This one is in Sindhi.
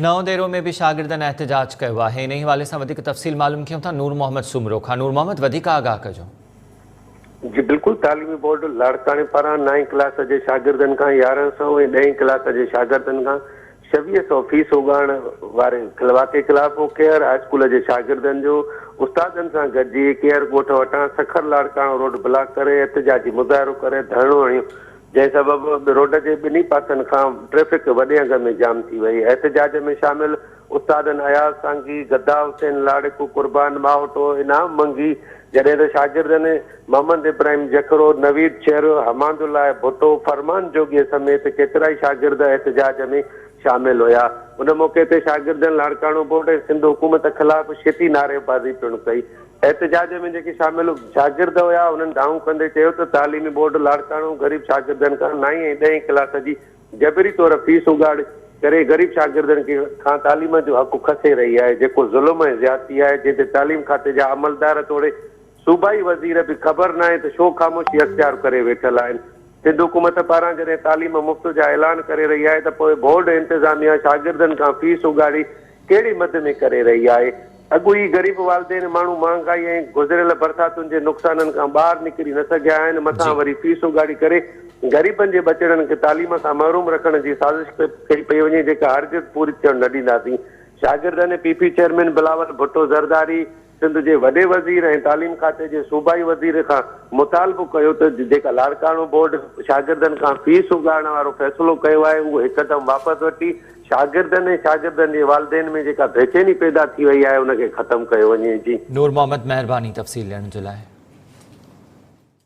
نئون ديرو ۾ به شاگردن احتجاج ڪيو آهي انهي حوالي سان وڌيڪ تفصيل معلوم ڪيون ٿا نور محمد سومرو کان نور محمد وڌيڪ آگاهه ڪجو. جي بلڪل تعليمي بورڊ لاڙڪاڻي پاران نائين ڪلاس جي شاگردن کان يارهن سئو ۽ ڏهين ڪلاس جي شاگردن کان ڇويهه سئو فيس اوڳاڙڻ واري واقعي خلاف ڪيهر هاء اسڪول جي شاگردن جو استادن سان گڏجي ڪيهر ڳوٺ وٽان سکر لاڙڪاڻو روڊ بلاڪ ڪري احتجاجي مظاهرو ڪري ڌرڻو هڻيو جنهن سبب روڊ جي ٻنهي پاسن کان ٽريفڪ وڏي انگ ۾ جام ٿي وئي. احتجاج ۾ شامل استادن اياز سانگي، گدا حسين لاڙڪ، قربان ماهوٽو، انعام منگي، جڏهن ته شاگردن محمد ابراهيم جکرو، نويد چهر، حماد الله ڀٽو، فرمان جوڳي سميت ڪيترائي شاگرد احتجاج ۾ شامل هيا. ان موقعي تي شاگردن لاڙڪاڻو بورڊ ۽ سنڌ حڪومت خلاف شيٽي نعريبازي پڻ ڪئي. احتجاج ۾ جيڪي شامل شاگرد هيا انهن دانهون ڪندي چيو ته تعليمي بورڊ لاڙڪاڻو غريب شاگردن کان نائين ۽ ڏهين ڪلاس جي جبري طور فيس اڳاڙي ڪري غريب شاگردن کان تعليم جو حق کسي رهي آهي جيڪو ظلم ۽ زيادتي آهي جنهن تي تعليم کاتي جا عملدار توڙي صوبائي وزير به خبر ناهي ته ڇو خاموشي اختيار ڪري ويٺل آهن سنڌ حڪومت پاران جڏهن تعليم مفت جا اعلان ڪري رهي آهي ته پوء بورڊ انتظاميه شاگردن کان فيس اڳاڙي ڪهڙي مد ۾ ڪري رهي آهي. اڳوئي غريب والدين ماڻهو مهانگائي ۽ گذريل برساتن جي نقصانن کان ٻاهر نڪري نه سگهيا آهن مٿان وري فيس اوڳاڙي ڪري غريبن جي ٻچڙن کي تعليم کان محروم رکڻ جي سازش ڪئي پئي وڃي جيڪا هرگز پوري ٿيڻ نه ڏينداسين. شاگردن ۽ P P chairman Bilawal Bhutto Zardari. Sindh جي وڏي وزير ۽ تعليم کاتي جي صوبائي وزير کان مطالبو ڪيو ته جيڪا لاڙڪاڻو بورڊ شاگردن کان فيس اڳاڙڻ وارو فيصلو ڪيو آهي اهو هڪدم واپس وٺي شاگردن ۽ شاگردن جي والدين ۾ جيڪا بيچيني پيدا ٿي وئي آهي ان کي ختم ڪيو وڃي جي. نور محمد مهرباني تفصيل ڏيڻ جي لاء.